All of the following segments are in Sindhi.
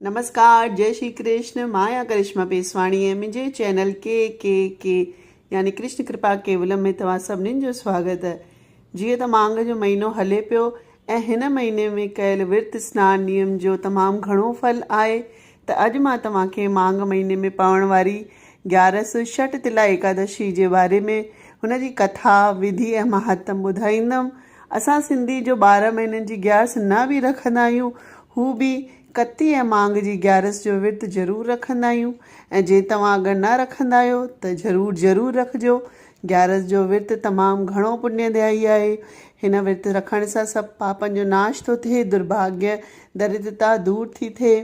نمسڪار جئي شري ڪرشن مان آهيان ڪرشما پيسواڻي ۽ منهنجي چينل ڪي ڪي ڪي يعني ڪرشن ڪرپا ڪيولم ۾ توهان سڀنين جو سواگت جيئن ته مانگ جو مهينو هلي پيو ۽ هن مهيني ۾ ڪيل ورت سنان نيم جو تمام گهڻو ڦل آهي ته اڄ مان توهان کي مانگ مهيني ۾ پوڻ واري گيارس شٽ تلا ايڪادشي جي باري ۾ هن جي ڪٿا وڌي ۽ مهاتم ٻڌائيندم اسان سنڌي جو ٻارهن مهينن جي گيارس نه به رکندا آهيون هو به ڪتي ۽ مانگ جي گيارس جو ورت ضرور رکندا آهيون ۽ جي توهان اگر نه رکندا آهيو ته ضرور ضرور رکجو گيارس جو ورت تمام گهڻو پڃ دائي آهي هن ورت رکڻ سان سڀ پاپن جو ناش ٿو ٿئي درڀاگيه دريدرتا دور ٿي ٿئي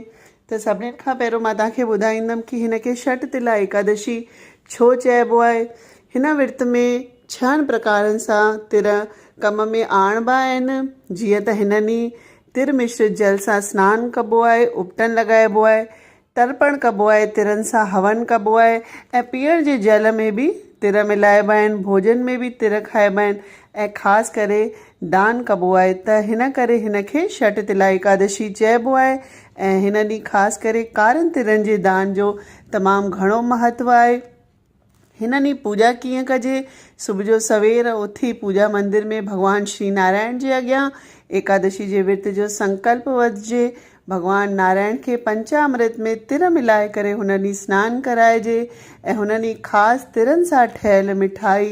ته سڀني کان پهريون مان توهان کي ٻڌائيندم ڪي هن کي شٽ تلا ايڪادشي ڇو چئبو آهي. هن ورت ۾ ڇهن پرڪارن سان تر ڪم ۾ آڻبا آهن. جيئن ته هن ڏينهن تر مشرت جل سان سنان ڪبو آهي، اپٽن لڳائبو آهي، ترپڻ ڪبو آهي، ترن سان هون ڪبو آهي ۽ پيئڻ جي جل ۾ به تر ملائبا آهن، ڀوڄن ۾ به تر کائبا آهن ۽ خاص ڪري دان ڪبو آهي ته هن ڪري هن کي شٽ تلا ايڪادشي چئبو آهي ۽ هن ڏينهن خاص ڪري ڪارن ترن جي دان جو تمام گهڻو مهتو آهي. هن ڏينهن پوڄا ڪيئن ڪجي، صبح جو سوير اٿي پوڄا مندر ۾ ڀڳوان شري نارائڻ جي اڳيان ايڪادشي جي ورت جو سنڪلپ وڌجي، ڀڳوان نارائڻ کي پنچامرت ۾ تر ملائي ڪري هن ڏينهن سنان ڪرائجي ۽ هن ڏينهن خاص ترن سان ٺهيل مٺائي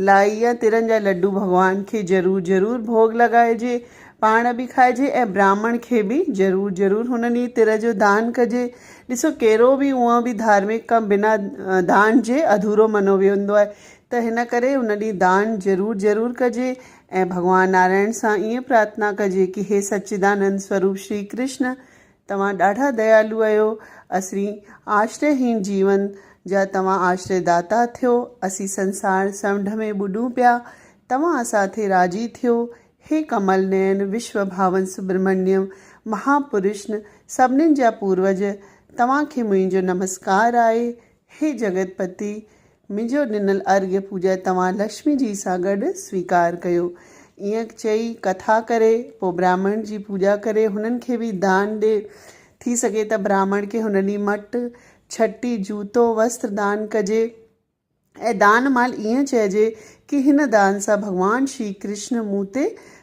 لائي يا ترن جا لڏو ڀڳوان کي ضرور ضرور ڀوڳ لڳائجي، پاڻ به کائجي ۽ براهمڻ کي به ضرور ضرور هن ڏينهن تر جو دان ڪجي. ڏسو ڪهڙو به اونء به ڌارمڪ ڪم بنا دان جي اڌورو مڃيو ويندو آهي ته هن ڪري ان ڏينهن دان ضرور ضرور ڪجي ۽ ڀڳوان نارائڻ سان ائين پرارٿنا ڪجي ڪي هي سچدانند سوروپ شري ڪرشن توهان ڏاڍا ديالو اهيو اسرين آشري هين جيون جا توهان آشري داتا ٿيو اسين سنسار سمنڊ ۾ ٻڏون پيا توهان اسان ٿي راضي ٿيو هي ڪمل نين وشو ڀاون سبرمنيم مها پرشن سڀنين جا پوروج توهان کي منهنجو نمسڪار آهي هي جگت پتي منهنجو ڏنل ارگهه پوڄا توهان لڪشمي جي سان گڏ سويڪار ڪيو. ائين چئي ڪٿا ڪري، پوء براهمڻ جي پوڄا ڪري هنن کي به دان ڏي. ٿي سگهي ته براهمڻ کي هن ڏينهن مٽ، ڇٽي، جوتو، وسٽر دان ڪجي ۽ دان مهل ائين چئجي ڪي هن دان سان ڀڳوان شري ڪرشن مون تي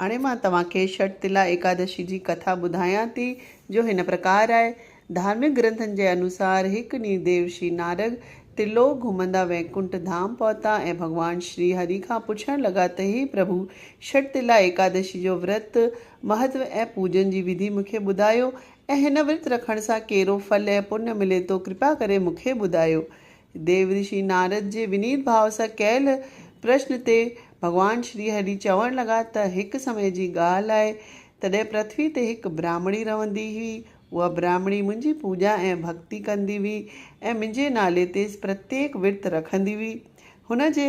هاڻي مان توهان کي شٽتلا ايڪادشي جي ڪٿا ٻڌايان ٿي، جو هن پرڪار آهي، ڌارمڪ گرنٿن جي انوسار هڪ ڏينهن ديو شري نارد ترلوڪ گهمندا وينڪنٺ ڌام پهتا ۽ ڀڳوان شري هري کان پڇڻ لڳا ته هي پرڀو، شٽتلا ايڪادشي جو ورت، مهتو ۽ پوڄن جي وڌي مون کي ٻڌايو ۽ هن ورت رکڻ سان ڪهڙو ڦل ۽ پڃ ملي ٿو ڪرپا ڪري مون کي ٻڌايو. ديو رشي نارد جي ونيت ڀاء سان ڪيل پرشن تي ڀڳوان شري هري چوڻ لڳا ته هڪ سمي جي ڳالهه آهي تڏهن پرٿوي تي هڪ براهمڻي رهندي هئي. اها براهمڻي منهنجي پوڄا ۽ ڀڳتي ڪندي هئي ۽ منهنجي نالي تي پرتيڪ ورت رکندي هئي. هن جي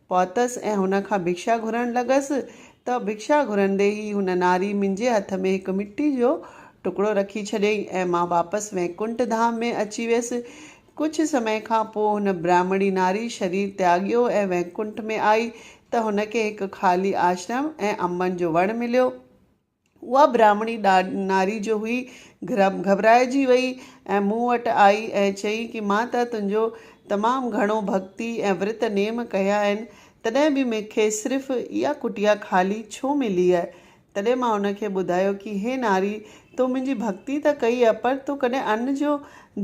پهتس ۽ هن کان ڀڪشا گهرڻ لڳس ته ڀڪشا گهرندي ئي هن ناري منهنجي هٿ ۾ هڪ مٽي جو ٽڪڙو رکي ڇڏيائين ۽ مان واپس وينڪنٺ ڌام ۾ اچي ويس. ڪجهه سمي کان پوء هن برهمڻي ناري شرير تياڳيو ۽ وينڪنٺ ۾ آئي ته هن کي هڪ خالي آشرم ۽ انبن جو وڻ مليو. اها براهمڻي ناري جو هئي، گهٻرائجي وئي ۽ مون وٽ آئي ۽ چيائين ڪي مان ته تنهنجو تمام گهڻو ڀڳتي ۽ ورت نيم ڪيا آهن، تڏهن به مون کي صرف اها ڪٽيا خالي ڇو ملي آهي؟ تڏهن مان هن کي ٻڌايو ڪي هي ناري! تو منهنجي ڀڳتي ته ڪئي آهي، پر تو ڪڏهن ان جو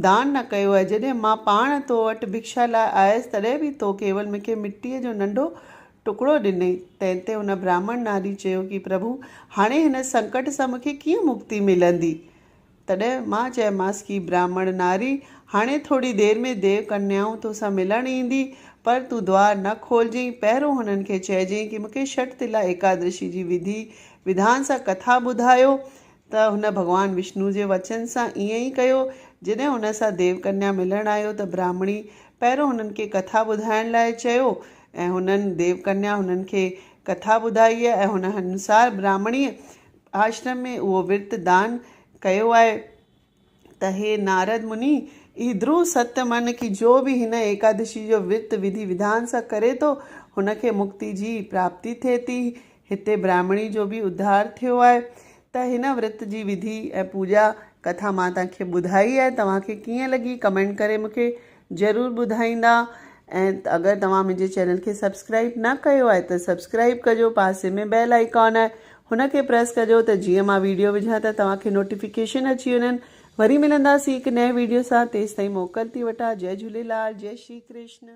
دان نه ڪيو آهي، جڏهن مان پاڻ تو وٽ ڀڪشا لاء آيس، تڏهن به تو ڪيول مون کي مٽيء جو ننڍو ٽڪڙو ڏنئي، تنهن تي ان براهمڻ ناري چيو ڪي پرڀو! هاڻي هن سنڪٽ سان مون کي ڪيئن مڪتي ملندي؟ تڏهن مان چيمانس ڪي براهمڻ ناري! هاڻي ٿوري دير ۾ ديو ڪنيائون تو سان ملڻ ايندي، پر تون دوار نه کولجئين، پهرون هنن کي چئجئين ڪي مون کي شٽ تلا ايڪادرشي جي وڌي وڌان سان ڪٿا ٻڌايو، ته هن ڀڳوان وشنوء جي وچن سان ائين ئي ڪيو. جڏهن هن سان ديو ڪنيا ملڻ آيو ته براهمڻي پهريون هنن کي ڪٿا ٻڌائڻ لاء چيو ۽ هنن، ديو ڪنيا، هنن کي ڪٿا ٻڌائي ۽ هن انوسار براهمڻيء آشرم ۾ اهو ورت دان ڪيو آهي. ته هي نارد مني! اهي ڌرو ست من ڪي جو به هن ايڪادشي جو ورت وڌي وڌان سان ڪري ٿو، هن کي مڪتي جي پراپتي ٿئي ٿي. هتي براهمڻي جو به اڌار ٿيو آهي ته هن ورت جي وڌي ۽ پوڄا ڪٿا مان توهان کي ٻڌائي آهي، توهان کي ڪيئن لڳي ڪمينٽ ڪري مون کي ضرور ٻڌائيندا ۽ اگر توهان منهنجي چينل کي سبسڪرائب نه ڪيو آهي ته سبسڪرائب ڪجو پاسي ۾ بيل آئيڪان آهي هن کي پريس ڪجو ته جيئن مان ويڊيو وجهان ته توهان کي نوٽيفڪيشن اچي وڃن وري ملنداسين هڪ نئين ويڊيو سان تيستائين موڪل ٿي وٺان جئي جهوليلال جئي شري ڪرشن.